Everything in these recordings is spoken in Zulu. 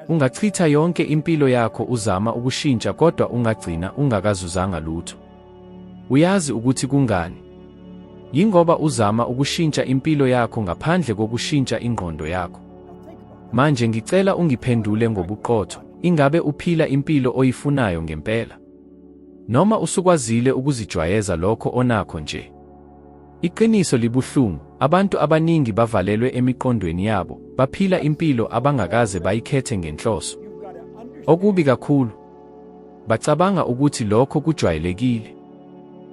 Ungachitha yonke impilo yakho uzama ukushintsha kodwa ungagcina ungakazuzanga lutho. Uyazi ukuthi kungani? Yingoba uzama ukushintsha impilo yakho ngaphandle kokushintsha ingqondo yakho. Manje ngicela ungiphendule ngobuqotho, ingabe uphila impilo oyifunayo ngempela? Noma usukwazile ukuzijwayeza lokho onakho nje? Iqiniso libuhlungu, abantu abaningi bavalelwe emiqondweni yabo, baphila impilo abangakaze bayikhethe ngenhloso. Okubi kakhulu, bacabanga ukuthi lokho kujwayelekile.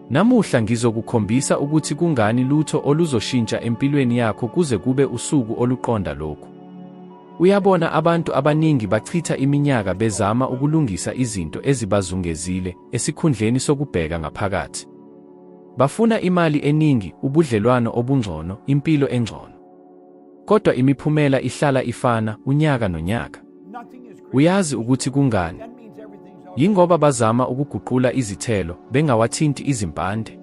Namuhla ngizokukhombisa ukuthi kungani lutho oluzoshintsha empilweni yakho kuze kube usuku oluqonda lokhu. Uyabona abantu abaningi bachitha iminyaka bezama ukulungisa izinto ezibazungezile esikhundleni sokubheka ngaphakathi. Bafuna imali eningi, ubudlelwano obungcono, impilo engcono. Kodwa imiphumela ihlala ifana unyaka nonyaka. Uyazi ukuthi kungani? Yingoba bazama ukuguqula izithelo bengawathinti izimpande.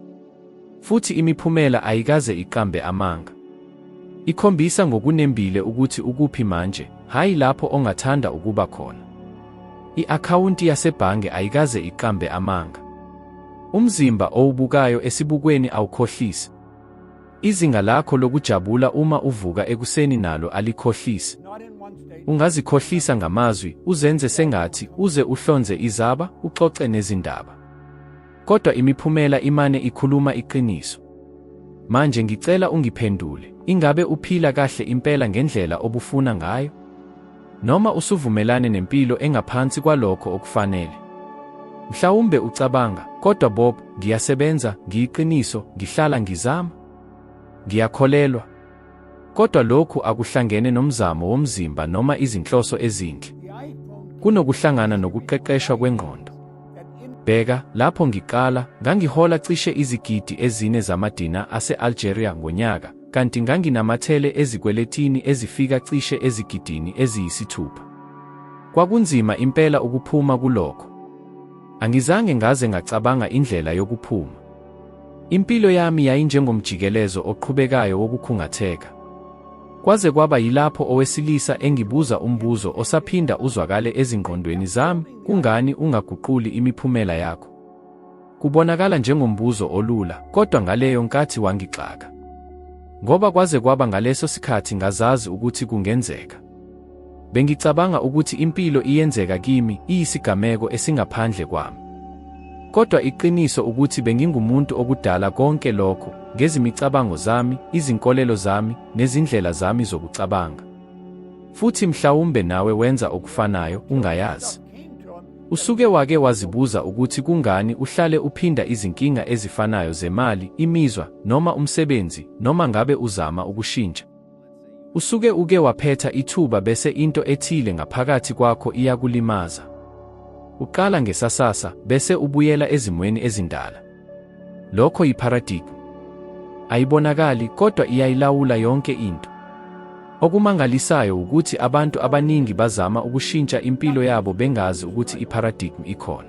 Futhi imiphumela ayikaze iqambe amanga. Ikhombisa ngokunembile ukuthi ukuphi manje, hhayi lapho ongathanda ukuba khona. I-akhawunti yasebhange ayikaze iqambe amanga. Umzimba owubukayo esibukweni awukhohlisi. Izinga lakho lokujabula uma uvuka ekuseni nalo alikhohlisi. Ungazikhohlisa ngamazwi, uzenze sengathi uze uhlonze izaba, uxoxe nezindaba. Kodwa imiphumela imane ikhuluma iqiniso. Manje ngicela ungiphendule, ingabe uphila kahle impela ngendlela obufuna ngayo? Noma usuvumelane nempilo engaphansi kwalokho okufanele. Mhlawumbe ucabanga, kodwa Bob, ngiyasebenza, ngiyiqiniso, ngihlala ngizama. Ngiyakholelwa. Kodwa lokhu akuhlangene nomzamo womzimba noma izinhloso ezinhle. Kunokuhlangana nokuqeqeshwa kwengqondo. Bheka, lapho ngiqala, ngangihola cishe izigidi ezine zamadina ase-Algeria ngonyaka, kanti nganginamathele ezikweletini ezifika cishe ezigidini eziyisithupha. Kwakunzima impela ukuphuma kulokho. Angizange ngaze ngacabanga indlela yokuphuma. Impilo yami yayinjengomjikelezo oqhubekayo wokukhungatheka. Kwaze kwaba yilapho owesilisa engibuza umbuzo osaphinda uzwakale ezingqondweni zami, kungani ungaguquli imiphumela yakho? Kubonakala njengombuzo olula, kodwa ngaleyo nkathi wangixaka. Ngoba kwaze kwaba ngaleso sikhathi ngazazi ukuthi kungenzeka. Bengicabanga ukuthi impilo iyenzeka kimi, iyisigameko esingaphandle kwami. Kodwa iqiniso ukuthi bengingumuntu okudala konke lokho, ngezimicabango zami, izinkolelo zami, nezindlela zami zokucabanga. Futhi mhlawumbe nawe wenza okufanayo, ungayazi. Usuke wake wazibuza ukuthi kungani uhlale uphinda izinkinga ezifanayo zemali, imizwa, noma umsebenzi, noma ngabe uzama ukushintsha? Usuke uke waphetha ithuba bese into ethile ngaphakathi kwakho iyakulimaza. Uqala ngesasasa, bese ubuyela ezimweni ezindala. Lokho yipharadigi. Ayibonakali kodwa iyayilawula yonke into. Okumangalisayo wukuthi abantu abaningi bazama ukushintsha impilo yabo bengazi ukuthi ipharadigi ikhona.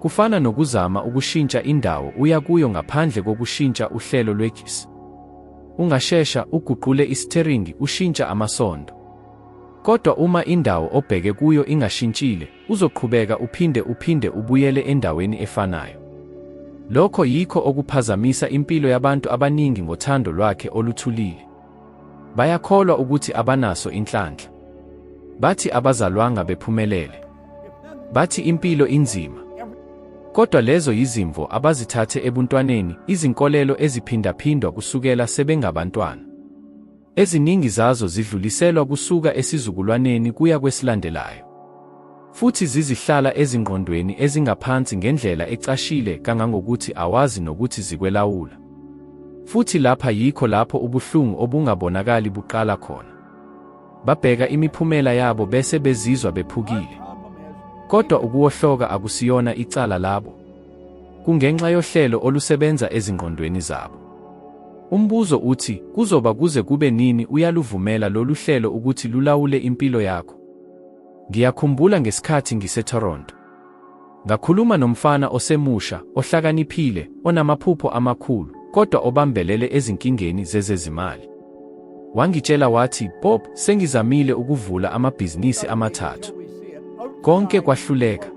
Kufana nokuzama ukushintsha indawo uya kuyo ngaphandle kokushintsha uhlelo lwegesi. Ungashesha uguqule isitheringi ushintsha amasondo. Kodwa uma indawo obheke kuyo ingashintshile, Uzoqhubeka uphinde uphinde ubuyele endaweni efanayo. Lokho yikho okuphazamisa impilo yabantu abaningi ngothando lwakhe oluthulile. Bayakholwa ukuthi abanaso inhlanhla. Bathi abazalwanga bephumelele. Bathi impilo inzima. Kodwa lezo yizimvo abazithathe ebuntwaneni, izinkolelo eziphindaphindwa kusukela sebengabantwana. Eziningi zazo zidluliselwa kusuka esizukulwaneni kuya kwesilandelayo, futhi zizihlala ezingqondweni ezingaphansi ngendlela ecashile kangangokuthi awazi nokuthi zikwelawula. Futhi lapha yikho lapho ubuhlungu obungabonakali buqala khona. Babheka imiphumela yabo bese bezizwa bephukile. Kodwa ukuwohloka akusiyona icala labo. Kungenxa yohlelo olusebenza ezingqondweni zabo. Umbuzo uthi, kuzoba kuze kube nini uyaluvumela lolu hlelo ukuthi lulawule impilo yakho? Ngiyakhumbula ngesikhathi ngiseToronto. Ngakhuluma nomfana osemusha, ohlakaniphile, onamaphupho amakhulu, kodwa obambelele ezinkingeni zezezimali. Wangitshela wathi, Bob, sengizamile ukuvula amabhizinisi amathathu. Konke kwahluleka.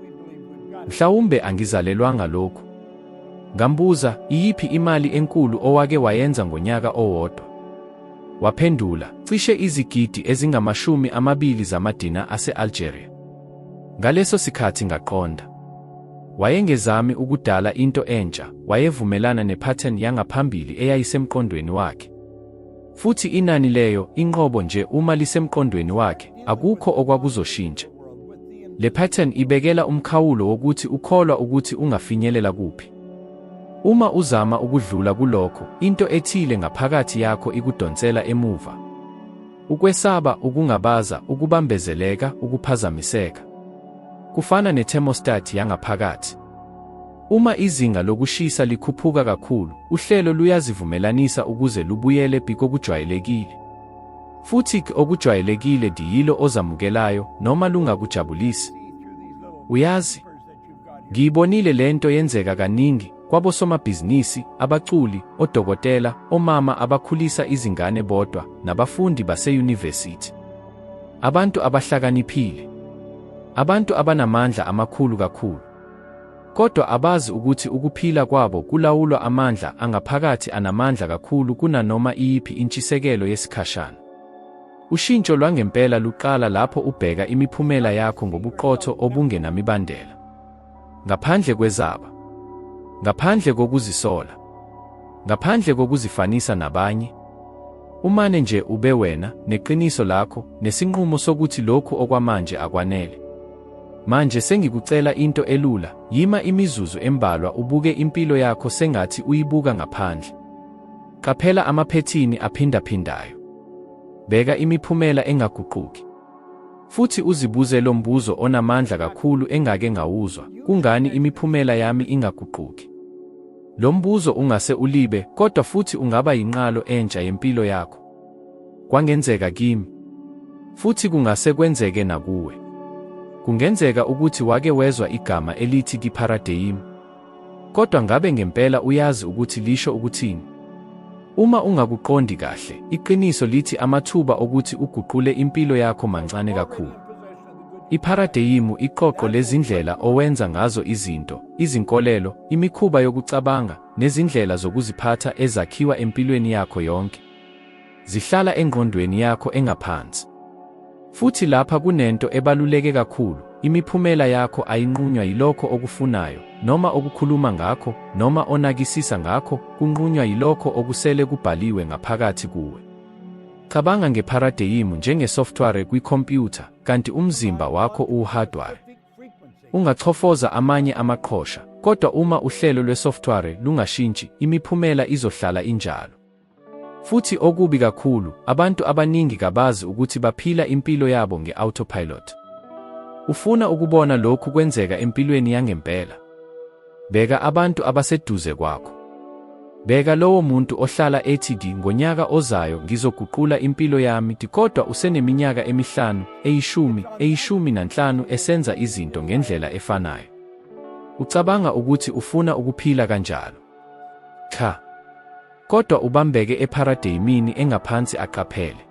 Mhlawumbe angizalelwanga lokhu. Ngambuza, iyiphi imali enkulu owake wayenza ngonyaka owodwa? Waphendula, cishe izigidi ezingamashumi amabili zamadina ase-Algeria. Ngaleso sikhathi ngaqonda. Wayengezami ukudala into entsha, wayevumelana ne-pattern yangaphambili eyayisemqondweni wakhe. Futhi inani leyo, inqobo nje uma lisemqondweni wakhe, akukho okwakuzoshintsha. Le pattern ibekela umkhawulo wokuthi ukholwa ukuthi ungafinyelela kuphi. Uma uzama ukudlula kulokho, into ethile ngaphakathi yakho ikudonsela emuva. Ukwesaba, ukungabaza, ukubambezeleka, ukuphazamiseka. Kufana ne-thermostat yangaphakathi. Uma izinga lokushisa likhuphuka kakhulu, uhlelo luyazivumelanisa ukuze lubuyele pi kokujwayelekile. Futhi ke okujwayelekile diyilo ozamukelayo noma lungakujabulisi. Uyazi, ngiyibonile le nto yenzeka kaningi kwabosomabhizinisi, abaculi, odokotela, omama abakhulisa izingane bodwa, nabafundi baseyunivesithi. Abantu abahlakaniphile. Abantu abanamandla amakhulu kakhulu. Kodwa abazi ukuthi ukuphila kwabo kulawulwa amandla angaphakathi anamandla kakhulu kunanoma iyiphi intshisekelo yesikhashana. Ushintsho lwangempela luqala lapho ubheka imiphumela yakho ngobuqotho obungenamibandela. Ngaphandle kwezaba. Ngaphandle kokuzisola. Ngaphandle kokuzifanisa nabanye. Umane nje ube wena, neqiniso lakho, nesinqumo sokuthi lokhu okwamanje akwanele. Manje sengikucela into elula, yima imizuzu embalwa ubuke impilo yakho sengathi uyibuka ngaphandle. Qaphela amaphethini aphindaphindayo. Bheka imiphumela engaguquki. Futhi uzibuze lo mbuzo onamandla kakhulu engake ngawuzwa, kungani imiphumela yami ingaguquki? Lo mbuzo ungase ulibe, kodwa futhi ungaba yinqalo entsha yempilo yakho. Kwangenzeka kimi. Futhi kungase kwenzeke nakuwe. Kungenzeka ukuthi wake wezwa igama elithi kipharadeyimi. Kodwa ngabe ngempela uyazi ukuthi lisho ukuthini? Uma ungakuqondi kahle, iqiniso lithi amathuba okuthi uguqule impilo yakho mancane kakhulu. Ipharadeyimu iqoqo lezindlela owenza ngazo izinto, izinkolelo, imikhuba yokucabanga, nezindlela zokuziphatha ezakhiwa empilweni yakho yonke. Zihlala engqondweni yakho engaphansi. Futhi lapha kunento ebaluleke kakhulu, imiphumela yakho ayinqunywa yilokho okufunayo, noma okukhuluma ngakho, noma onakisisa ngakho, kunqunywa yilokho okusele kubhaliwe ngaphakathi kuwe. Cabanga ngepharadeyimu njengesoftware kwikhompyutha, kanti umzimba wakho uwuhardware. Ungachofoza amanye amaqhosha, kodwa uma uhlelo lwesoftware lungashintshi, imiphumela izohlala injalo. Futhi okubi kakhulu, abantu abaningi kabazi ukuthi baphila impilo yabo nge-autopilot. Ufuna ukubona lokhu kwenzeka empilweni yangempela. Bheka abantu abaseduze kwakho. Bheka lowo muntu ohlala ethi di ngonyaka ozayo ngizoguqula impilo yami di kodwa useneminyaka emihlanu, eyishumi, eyishumi nanhlanu esenza izinto ngendlela efanayo. Ucabanga ukuthi ufuna ukuphila kanjalo. Cha. Kodwa ubambeke epharadeyimini engaphansi aqaphele.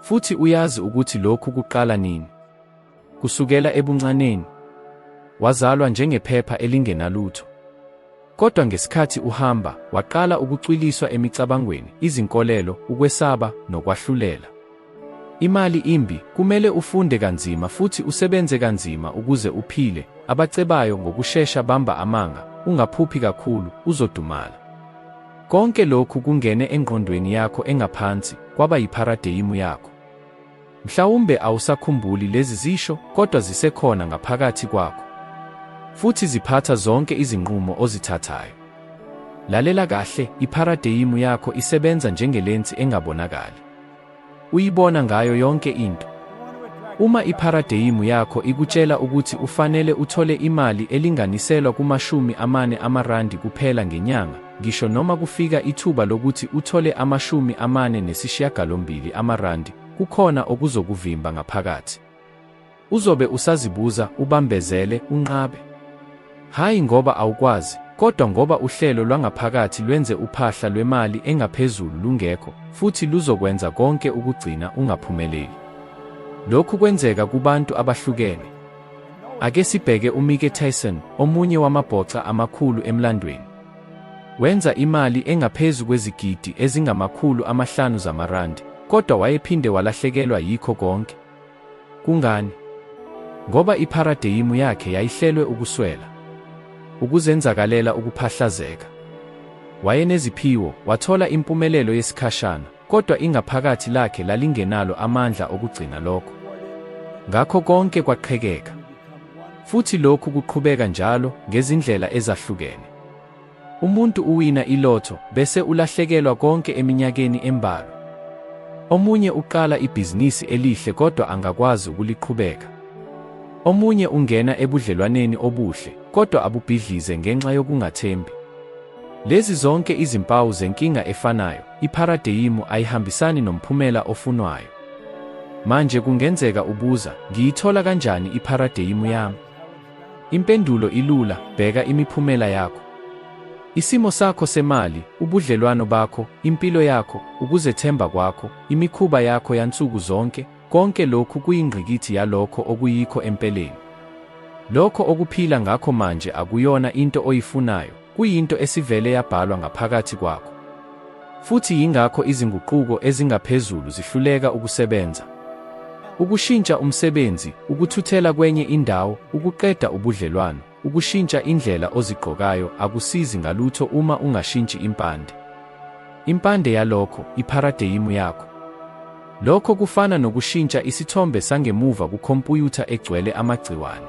Futhi uyazi ukuthi lokhu kuqala nini? Kusukela ebuncaneni. Wazalwa njengephepha elingenalutho. Kodwa ngesikhathi uhamba, waqala ukucwiliswa emicabangweni, izinkolelo, ukwesaba, nokwahlulela. Imali imbi, kumele ufunde kanzima futhi usebenze kanzima ukuze uphile. Abacebayo ngokushesha bamba amanga, ungaphuphi kakhulu, uzodumala. Konke lokhu kungene engqondweni yakho engaphansi, kwaba yipharadeyimu yakho. Mhlawumbe awusakhumbuli lezi zisho, kodwa zisekhona ngaphakathi kwakho. Futhi ziphatha zonke izinqumo ozithathayo. Lalela kahle, ipharadeyimu yakho isebenza njengelensi engabonakali. Uyibona ngayo yonke into. Uma ipharadeyimu yakho ikutshela ukuthi ufanele uthole imali elinganiselwa kumashumi amane amarandi kuphela ngenyanga, ngisho noma kufika ithuba lokuthi uthole amashumi amane nesishiyagalombili amarandi, kukhona okuzokuvimba ngaphakathi. Uzobe usazibuza, ubambezele, unqabe. Hhayi ngoba awukwazi, kodwa ngoba uhlelo lwangaphakathi lwenze uphahla lwemali engaphezulu lungekho, futhi luzokwenza konke ukugcina ungaphumeleli. Lokhu kwenzeka kubantu abahlukene. Ake sibheke uMike Tyson, omunye wamabhoxa amakhulu emlandweni. Wenza imali engaphezu kwezigidi ezingamakhulu amahlanu zamarandi, kodwa wayephinde walahlekelwa yikho konke. Kungani? Ngoba ipharadeyimu yakhe yayihlelwe ukuswela, ukuzenzakalela, ukuphahlazeka. Wayeneziphiwo, wathola impumelelo yesikhashana, kodwa ingaphakathi lakhe lalingenalo amandla okugcina lokho. Ngakho konke kwaqhekeka. Futhi lokhu kuqhubeka njalo ngezindlela ezahlukene. Umuntu uwina ilotho bese ulahlekelwa konke eminyakeni embalwa. Omunye uqala ibhizinisi elihle kodwa angakwazi ukuliqhubeka. Omunye ungena ebudlelwaneni obuhle kodwa abubhidlize ngenxa yokungathembi. Lezi zonke izimpawu zenkinga efanayo, ipharadeyimu ayihambisani nomphumela ofunwayo. Manje kungenzeka ubuza, ngiyithola kanjani ipharadeyimu yami? Impendulo ilula, bheka imiphumela yakho. Isimo sakho semali, ubudlelwano bakho, impilo yakho, ukuzethemba kwakho, imikhuba yakho yansuku zonke, konke lokhu kuyingqikithi yalokho okuyikho empeleni. Lokho okuphila ngakho manje akuyona into oyifunayo, kuyinto esivele yabhalwa ngaphakathi kwakho. Futhi yingakho izinguquko ezingaphezulu zihluleka ukusebenza. Ukushintsha umsebenzi, ukuthuthela kwenye indawo, ukuqeda ubudlelwano, ukushintsha indlela ozigqokayo akusizi ngalutho uma ungashintshi impande. Impande yalokho, ipharadeyimu yakho. Lokho kufana nokushintsha isithombe sangemuva kukhompuyutha egcwele amagciwane.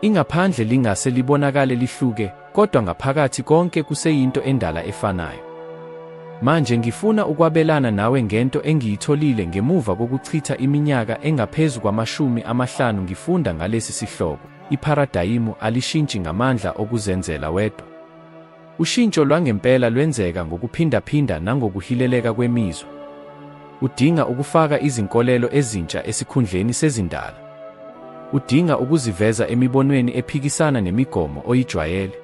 Ingaphandle lingase libonakale lihluke, kodwa ngaphakathi konke kuseyinto endala efanayo. Manje ngifuna ukwabelana nawe ngento engiyitholile ngemuva kokuchitha iminyaka engaphezu kwamashumi amahlanu ngifunda ngalesi sihloko, Ipharadayimu alishintshi ngamandla okuzenzela wedwa. Ushintsho lwangempela lwenzeka ngokuphindaphinda nangokuhileleka kwemizwa. Udinga ukufaka izinkolelo ezintsha esikhundleni sezindala. Udinga ukuziveza emibonweni ephikisana nemigomo oyijwayele.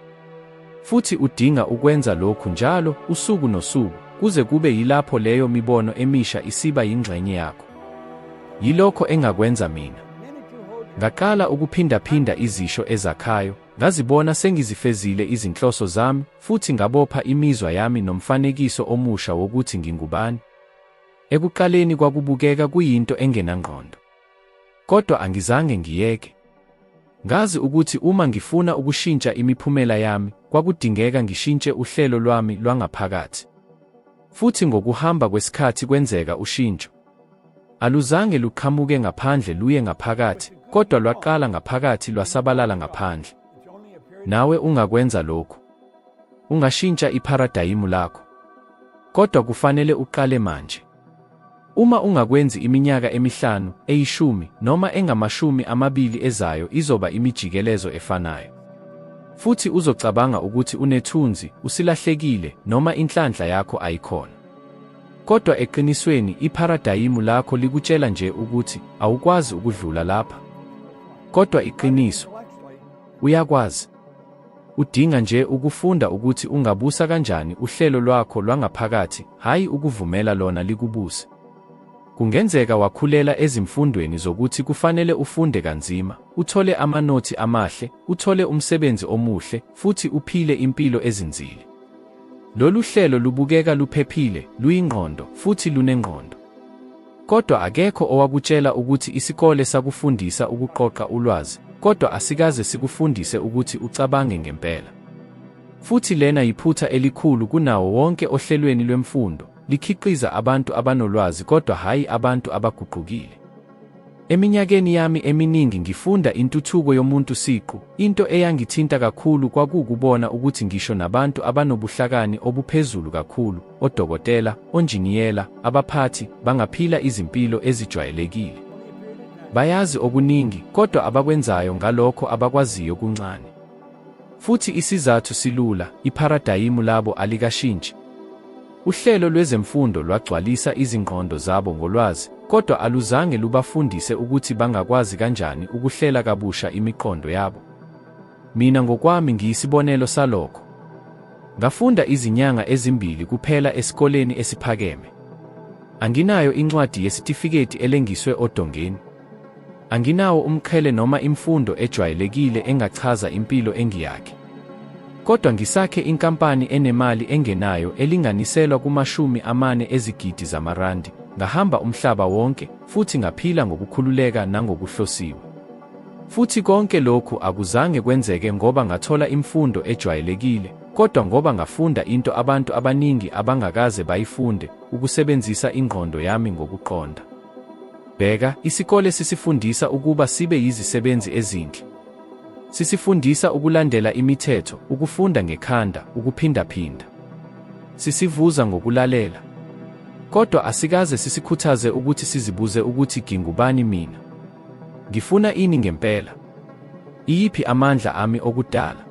Futhi udinga ukwenza lokhu njalo, usuku nosuku, kuze kube yilapho leyo mibono emisha isiba yingxenye yakho. Yilokho engakwenza mina. Ngaqala ukuphindaphinda izisho ezakhayo, Ngazibona sengizifezile izinhloso zami futhi ngabopha imizwa yami nomfanekiso omusha wokuthi ngingubani. Ekuqaleni kwakubukeka kuyinto engenangqondo. Kodwa angizange ngiyeke. Ngazi ukuthi uma ngifuna ukushintsha imiphumela yami, kwakudingeka ngishintshe uhlelo lwami lwangaphakathi. Futhi ngokuhamba kwesikhathi kwenzeka ushintsho. Aluzange luqhamuke ngaphandle luye ngaphakathi, kodwa lwaqala ngaphakathi lwasabalala ngaphandle. Nawe ungakwenza lokhu. Ungashintsha ipharadayimu lakho. Kodwa kufanele uqale manje. Uma ungakwenzi iminyaka emihlanu, eyishumi, noma engamashumi amabili ezayo izoba imijikelezo efanayo. Futhi uzocabanga ukuthi unethunzi, usilahlekile, noma inhlanhla yakho ayikhona. Kodwa eqinisweni, ipharadayimu lakho likutshela nje ukuthi awukwazi ukudlula lapha. Kodwa iqiniso, uyakwazi. Udinga nje ukufunda ukuthi ungabusa kanjani uhlelo lwakho lwangaphakathi, hhayi ukuvumela lona likubuse. Kungenzeka wakhulela ezimfundweni zokuthi kufanele ufunde kanzima, uthole amanothi amahle, uthole umsebenzi omuhle, futhi uphile impilo ezinzile. Lolu hlelo lubukeka luphephile, luyingqondo, futhi lunengqondo. Kodwa akekho owakutshela ukuthi isikole sakufundisa ukuqoqa ulwazi, kodwa asikaze sikufundise ukuthi ucabange ngempela. Futhi lena yiphutha elikhulu kunawo wonke ohlelweni lwemfundo, likhiqiza abantu abanolwazi kodwa hhayi abantu abaguqukile. Eminyakeni yami eminingi ngifunda intuthuko yomuntu siqu, into eyangithinta kakhulu kwakuwukubona ukuthi ngisho nabantu abanobuhlakani obuphezulu kakhulu, odokotela, onjiniyela, abaphathi, bangaphila izimpilo ezijwayelekile. Bayazi okuningi, kodwa abakwenzayo ngalokho abakwaziyo kuncane. Futhi isizathu silula, ipharadayimu labo alikashintshi. Uhlelo lwezemfundo lwagcwalisa izingqondo zabo ngolwazi, kodwa aluzange lubafundise ukuthi bangakwazi kanjani ukuhlela kabusha imiqondo yabo. Mina ngokwami ngiyisibonelo salokho. Ngafunda izinyanga ezimbili kuphela esikoleni esiphakeme. Anginayo incwadi yesitifiketi elengiswe odongeni. Anginawo umqhele noma imfundo ejwayelekile engachaza impilo engiyakhe. Kodwa ngisakhe inkampani enemali engenayo elinganiselwa kumashumi amane ezigidi zamarandi, ngahamba umhlaba wonke, futhi ngaphila ngokukhululeka nangokuhlosiwe. Futhi konke lokhu akuzange kwenzeke ngoba ngathola imfundo ejwayelekile, kodwa ngoba ngafunda into abantu abaningi abangakaze bayifunde, ukusebenzisa ingqondo yami ngokuqonda. Bheka, isikole sisifundisa ukuba sibe yizisebenzi ezinhle. Sisifundisa ukulandela imithetho, ukufunda ngekhanda, ukuphindaphinda. Sisivuza ngokulalela. Kodwa asikaze sisikhuthaze ukuthi sizibuze ukuthi ngingubani mina? Ngifuna ini ngempela? Iyiphi amandla ami okudala?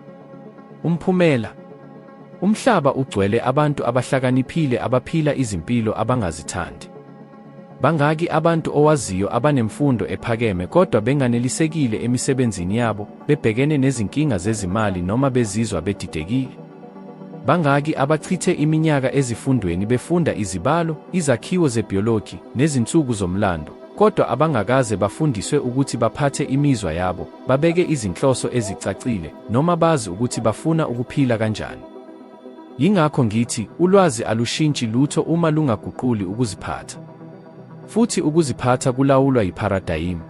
Umphumela? Umhlaba ugcwele abantu abahlakaniphile abaphila izimpilo abangazithandi. Bangaki abantu owaziyo abanemfundo ephakeme kodwa benganelisekile emisebenzini yabo, bebhekene nezinkinga zezimali noma bezizwa bedidekile? Bangaki abachithe iminyaka ezifundweni befunda izibalo, izakhiwo zebiology, nezinsuku zomlando, kodwa abangakaze bafundiswe ukuthi baphathe imizwa yabo, babeke izinhloso ezicacile, noma bazi ukuthi bafuna ukuphila kanjani? Yingakho ngithi ulwazi alushintshi lutho uma lungaguquli ukuziphatha. Futhi ukuziphatha kulawulwa yipharadayimi.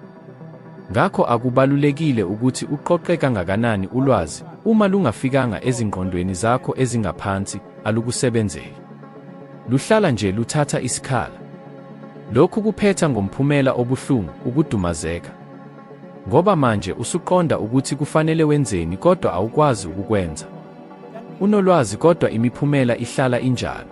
Ngakho akubalulekile ukuthi uqoqe kangakanani ulwazi, uma lungafikanga ezingqondweni zakho ezingaphansi, alukusebenzeli. Luhlala nje luthatha isikhala. Lokhu kuphetha ngomphumela obuhlungu, ukudumazeka. Ngoba manje usuqonda ukuthi kufanele wenzeni kodwa awukwazi ukukwenza. Unolwazi kodwa imiphumela ihlala injalo.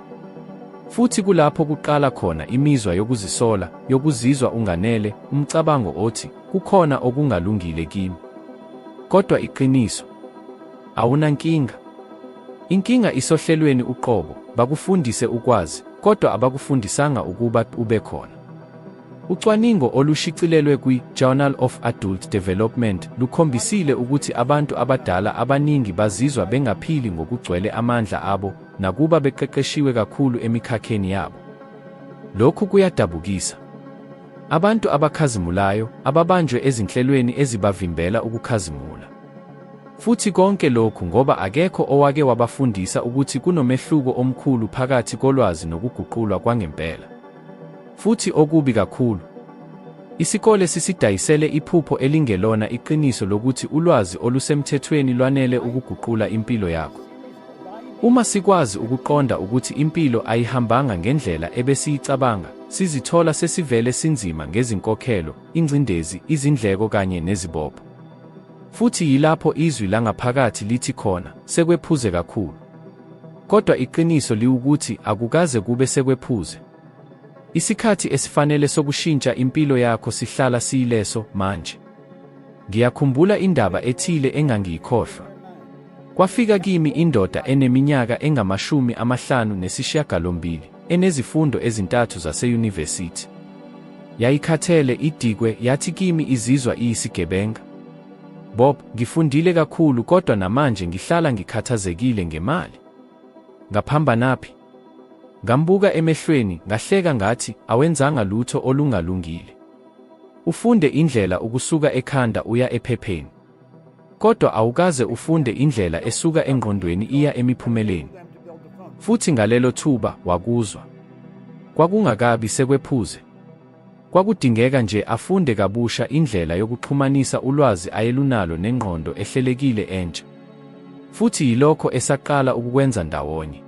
Futhi kulapho kuqala khona imizwa yokuzisola, yokuzizwa unganele, umcabango othi kukhona okungalungile kimi. Kodwa iqiniso awunankinga. Inkinga isohlelweni uqobo, bakufundise ukwazi, kodwa abakufundisanga ukuba ube khona. Ucwaningo olushicilelwe kwi-Journal of Adult Development lukhombisile ukuthi abantu abadala abaningi bazizwa bengaphili ngokugcwele amandla abo nakuba beqeqeshiwe kakhulu emikhakheni yabo. Lokhu kuyadabukisa. Abantu abakhazimulayo ababanjwe ezinhlelweni ezibavimbela ukukhazimula. Futhi konke lokhu ngoba akekho owake wabafundisa ukuthi kunomehluko omkhulu phakathi kolwazi nokuguqulwa kwangempela. Futhi okubi kakhulu, isikole sisidayisele iphupho elingelona iqiniso lokuthi ulwazi olusemthethweni lwanele ukuguqula impilo yakho. Uma sikwazi ukuqonda ukuthi impilo ayihambanga ngendlela ebesiyicabanga, sizithola sesivele sinzima ngezinkokhelo, ingcindezi, izindleko kanye nezibopho. Futhi yilapho izwi langaphakathi lithi khona, sekwephuze kakhulu. Kodwa iqiniso liwukuthi akukaze kube sekwephuze. Isikhathi esifanele sokushintsha impilo yakho sihlala siyileso manje. Ngiyakhumbula indaba ethile engangiyikhohlwa. Kwafika kimi indoda eneminyaka engamashumi amahlanu nesishiyagalombili. enezifundo ezintathu zaseyunivesithi. Yayikhathele, idikwe, yathi kimi izizwa iyisigebenga. Bob, ngifundile kakhulu kodwa namanje ngihlala ngikhathazekile ngemali. Ngaphambanaphi? Ngambuka emehlweni, ngahleka ngathi, awenzanga lutho olungalungile. Ufunde indlela ukusuka ekhanda uya ephepheni. Kodwa awukaze ufunde indlela esuka engqondweni iya emiphumeleni. Futhi ngalelo thuba wakuzwa. Kwakungakabi sekwephuze. Kwakudingeka nje afunde kabusha indlela yokuxhumanisa ulwazi ayelunalo nengqondo ehlelekile entsha. Futhi yilokho esaqala ukukwenza ndawonye.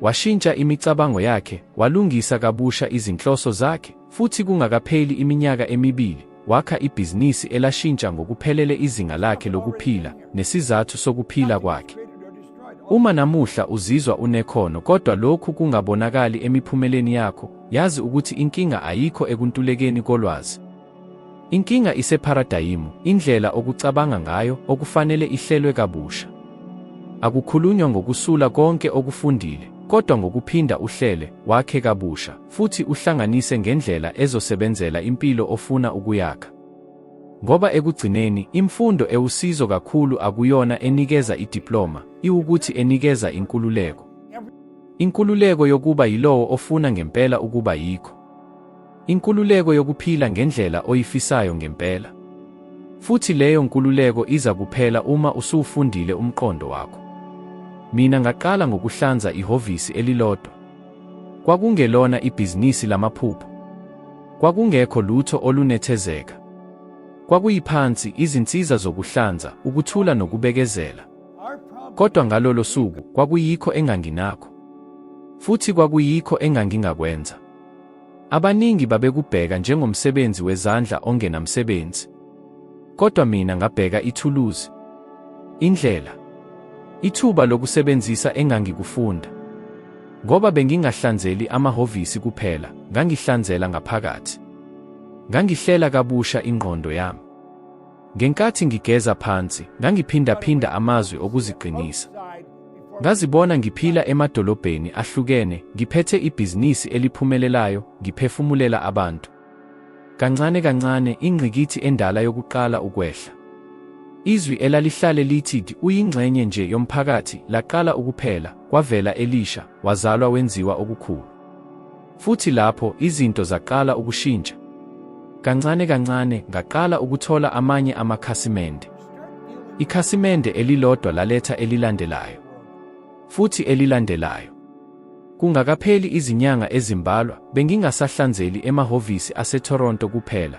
Washintsha imicabango yakhe, walungisa kabusha izinhloso zakhe, futhi kungakapheli iminyaka emibili, wakha ibhizinisi elashintsha ngokuphelele izinga lakhe lokuphila nesizathu sokuphila kwakhe. Uma namuhla uzizwa unekhono kodwa lokhu kungabonakali emiphumeleni yakho, yazi ukuthi inkinga ayikho ekuntulekeni kolwazi. Inkinga isepharadayimu, indlela okucabanga ngayo okufanele ihlelwe kabusha. Akukhulunywa ngokusula konke okufundile, kodwa ngokuphinda uhlele, wakhe kabusha. futhi uhlanganise ngendlela ezosebenzela impilo ofuna ukuyakha. Ngoba ekugcineni, imfundo ewusizo kakhulu akuyona enikeza idiploma, iwukuthi enikeza inkululeko. Inkululeko yokuba yilowo ofuna ngempela ukuba yikho. Inkululeko yokuphila ngendlela oyifisayo ngempela. Futhi leyo nkululeko iza kuphela uma usuwufundile umqondo wakho. Mina ngaqala ngokuhlanza ihhovisi elilodwa. Kwakungelona ibhizinisi lamaphupho. Kwakungekho lutho olunethezeka. Kwakuyiphansi, izinsiza zokuhlanza, ukuthula nokubekezela. Kodwa ngalolo suku kwakuyikho enganginakho. Futhi kwakuyikho engangingakwenza. Abaningi babekubheka njengomsebenzi wezandla ongenamsebenzi. Kodwa mina ngabheka ithuluzi, indlela, ithuba lokusebenzisa engangikufunda. Ngoba bengingahlanzeli amahhovisi kuphela, ngangihlanzela ngaphakathi. Ngangihlela kabusha ingqondo yami. Ngenkathi ngigeza phansi, ngangiphindaphinda amazwi okuziqinisa. Ngazibona ngiphila emadolobheni ahlukene, ngiphethe ibhizinisi eliphumelelayo, ngiphefumulela abantu. Kancane kancane, ingqikithi endala yokuqala ukwehla. Izwi elalihlale lithi uyingxenye nje yomphakathi laqala ukuphela, kwavela elisha, wazalwa wenziwa okukhulu. Futhi lapho izinto zaqala ukushintsha. Kancane kancane ngaqala ukuthola amanye amakhasimende. Ikhasimende elilodwa laletha elilandelayo. Futhi elilandelayo. Kungakapheli izinyanga ezimbalwa, bengingasahlanzeli emahhovisi aseToronto kuphela,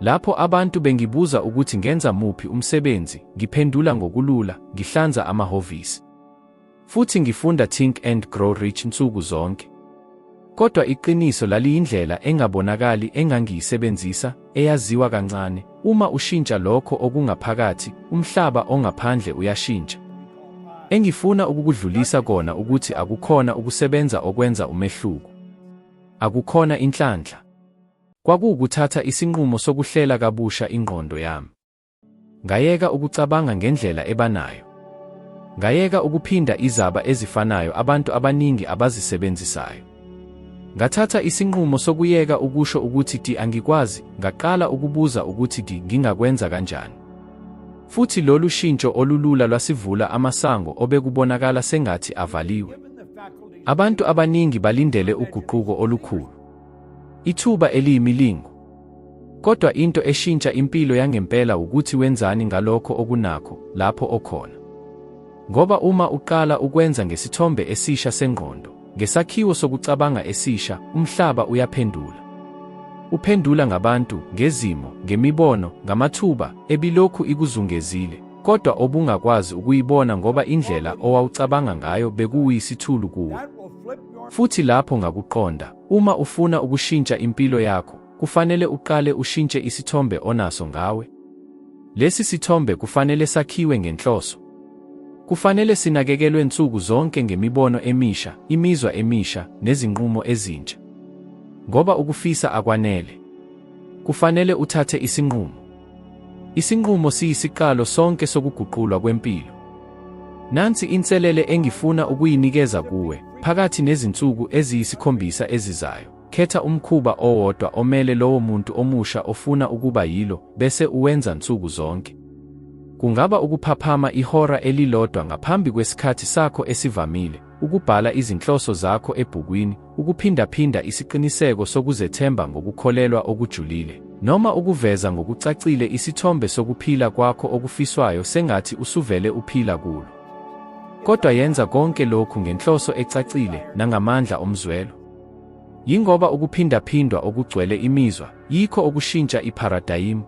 Lapho abantu bengibuza ukuthi ngenza muphi umsebenzi, ngiphendula ngokulula, ngihlanza amahhovisi. Futhi ngifunda Think and Grow Rich nsuku zonke. Kodwa iqiniso laliyindlela engabonakali engangiyisebenzisa, eyaziwa kancane. Uma ushintsha lokho okungaphakathi, umhlaba ongaphandle uyashintsha. Engifuna ukukudlulisa kona ukuthi akukhona ukusebenza okwenza umehluko. Akukhona inhlanhla. Kwakuwukuthatha isinqumo sokuhlela kabusha ingqondo yami. Ngayeka ukucabanga ngendlela ebanayo. Ngayeka ukuphinda izaba ezifanayo abantu abaningi abazisebenzisayo. Ngathatha isinqumo sokuyeka ukusho ukuthi ti angikwazi, ngaqala ukubuza ukuthi ti ngingakwenza kanjani. Futhi lolu shintsho olulula lwasivula amasango obekubonakala sengathi avaliwe. Abantu abaningi balindele uguquko olukhulu. Ithuba eliyimilingo. Kodwa into eshintsha impilo yangempela ukuthi wenzani ngalokho okunakho lapho okhona. Ngoba uma uqala ukwenza ngesithombe esisha sengqondo, ngesakhiwo sokucabanga esisha, umhlaba uyaphendula. Uphendula ngabantu, ngezimo, ngemibono, ngamathuba ebilokhu ikuzungezile, kodwa obungakwazi ukuyibona ngoba indlela owawucabanga ngayo bekuwuyisithulu kuwe. Futhi lapho ngakuqonda, Uma ufuna ukushintsha impilo yakho, kufanele uqale ushintshe isithombe onaso ngawe. Lesi sithombe kufanele sakhiwe ngenhloso. Kufanele sinakekelwe nsuku zonke ngemibono emisha, imizwa emisha, nezinqumo ezintsha. Ngoba ukufisa akwanele. Kufanele uthathe isinqumo. Isinqumo siyisiqalo sonke sokuguqulwa kwempilo. Nansi inselele engifuna ukuyinikeza kuwe, phakathi nezinsuku eziyisikhombisa ezizayo. Khetha umkhuba owodwa omele lowo muntu omusha ofuna ukuba yilo, bese uwenza nsuku zonke. Kungaba ukuphaphama ihora elilodwa ngaphambi kwesikhathi sakho esivamile, ukubhala izinhloso zakho ebhukwini, ukuphindaphinda isiqiniseko sokuzethemba ngokukholelwa okujulile, noma ukuveza ngokucacile isithombe sokuphila kwakho okufiswayo sengathi usuvele uphila kulo. Kodwa yenza konke lokhu ngenhloso ecacile nangamandla omzwelo. Yingoba ukuphindaphindwa okugcwele imizwa yikho okushintsha ipharadayimu.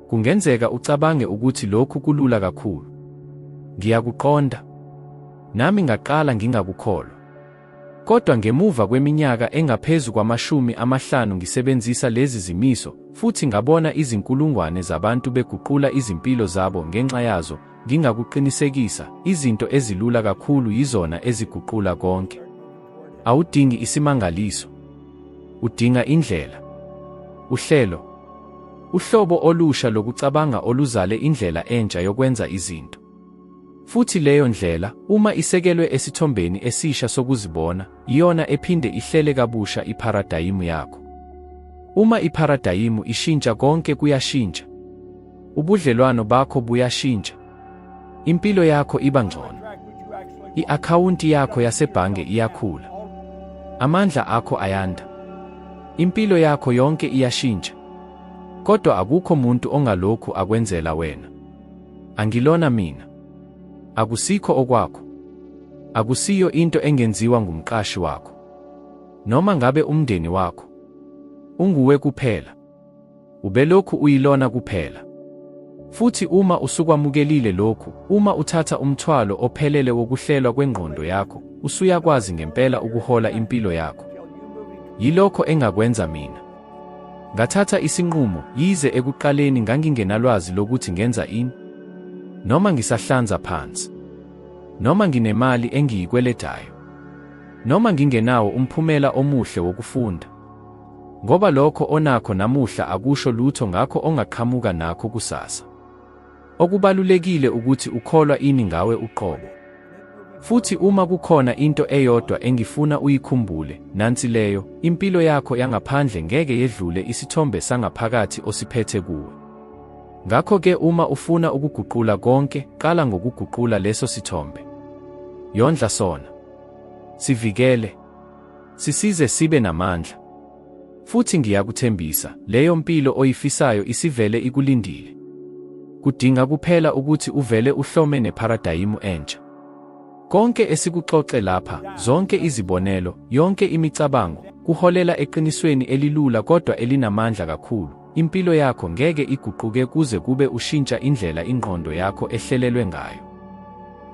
Kungenzeka ucabange ukuthi lokhu kulula kakhulu. Ngiyakuqonda. Nami ngaqala ngingakukholwa. Kodwa ngemuva kweminyaka engaphezu kwamashumi amahlanu ngisebenzisa lezi zimiso, futhi ngabona izinkulungwane zabantu beguqula izimpilo zabo ngenxa yazo, ngingakuqinisekisa, izinto ezilula kakhulu yizona eziguqula konke. Awudingi isimangaliso. Udinga indlela. Uhlelo. Uhlobo olusha lokucabanga oluzale indlela entsha yokwenza izinto. Futhi leyo ndlela, uma isekelwe esithombeni esisha sokuzibona, iyona ephinde ihlele kabusha ipharadayimu yakho. Uma ipharadayimu ishintsha, konke kuyashintsha. Ubudlelwano bakho buyashintsha. Impilo yakho iba ngcono. I-akhawunti yakho yasebhange iyakhula. Amandla akho ayanda. Impilo yakho yonke iyashintsha. Kodwa akukho muntu ongalokhu akwenzela wena. Angilona mina. Akusikho okwakho. Akusiyo into engenziwa ngumqashi wakho. Noma ngabe umndeni wakho. Unguwe kuphela. Ubelokhu uyilona kuphela. Futhi uma usukwamukelile lokhu, uma uthatha umthwalo ophelele wokuhlelwa kwengqondo yakho, usuyakwazi ngempela ukuhola impilo yakho. Yilokho engakwenza mina. Ngathatha isinqumo, yize ekuqaleni ngangingenalwazi lokuthi ngenza ini. Noma ngisahlanza phansi. Noma nginemali engiyikweletayo. Noma ngingenawo umphumela omuhle wokufunda. Ngoba lokho onakho namuhla akusho lutho ngakho ongaqhamuka nakho kusasa. Okubalulekile ukuthi ukholwa ini ngawe uqobo. Futhi uma kukhona into eyodwa engifuna uyikhumbule, nansi leyo, impilo yakho yangaphandle ngeke yedlule isithombe sangaphakathi osiphethe kuwe. Ngakho-ke uma ufuna ukuguqula konke, qala ngokuguqula leso sithombe. Yondla sona. Sivikele. Sisize sibe namandla. Futhi ngiyakuthembisa, leyo mpilo oyifisayo isivele ikulindile. Kudinga kuphela ukuthi uvele uhlome nepharadayimu entsha. Konke esikuxoxe lapha, zonke izibonelo, yonke imicabango, kuholela eqinisweni elilula kodwa elinamandla kakhulu. Impilo yakho ngeke iguquke kuze kube ushintsha indlela ingqondo yakho ehlelelwe ngayo.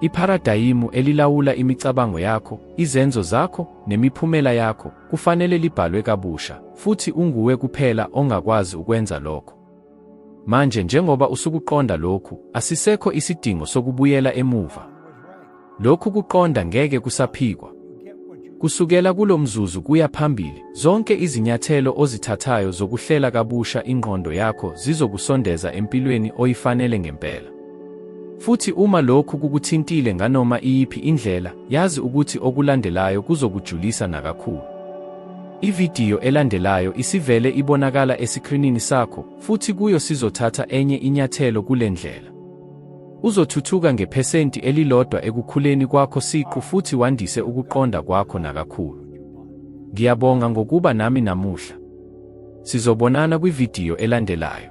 Ipharadayimu elilawula imicabango yakho, izenzo zakho, nemiphumela yakho kufanele libhalwe kabusha, futhi unguwe kuphela ongakwazi ukwenza lokho. Manje, njengoba usukuqonda lokhu, asisekho isidingo sokubuyela emuva. Lokhu kuqonda ngeke kusaphikwa. Kusukela kulo mzuzu kuya phambili, zonke izinyathelo ozithathayo zokuhlela kabusha ingqondo yakho zizokusondeza empilweni oyifanele ngempela. Futhi uma lokhu kukuthintile nganoma iyiphi indlela, yazi ukuthi okulandelayo kuzokujulisa nakakhulu. Ividiyo elandelayo isivele ibonakala esikrinini sakho, futhi kuyo sizothatha enye inyathelo kule ndlela. Uzothuthuka ngephesenti elilodwa ekukhuleni kwakho siqu futhi wandise ukuqonda kwakho nakakhulu. Ngiyabonga ngokuba nami namuhla. Sizobonana kwividiyo elandelayo.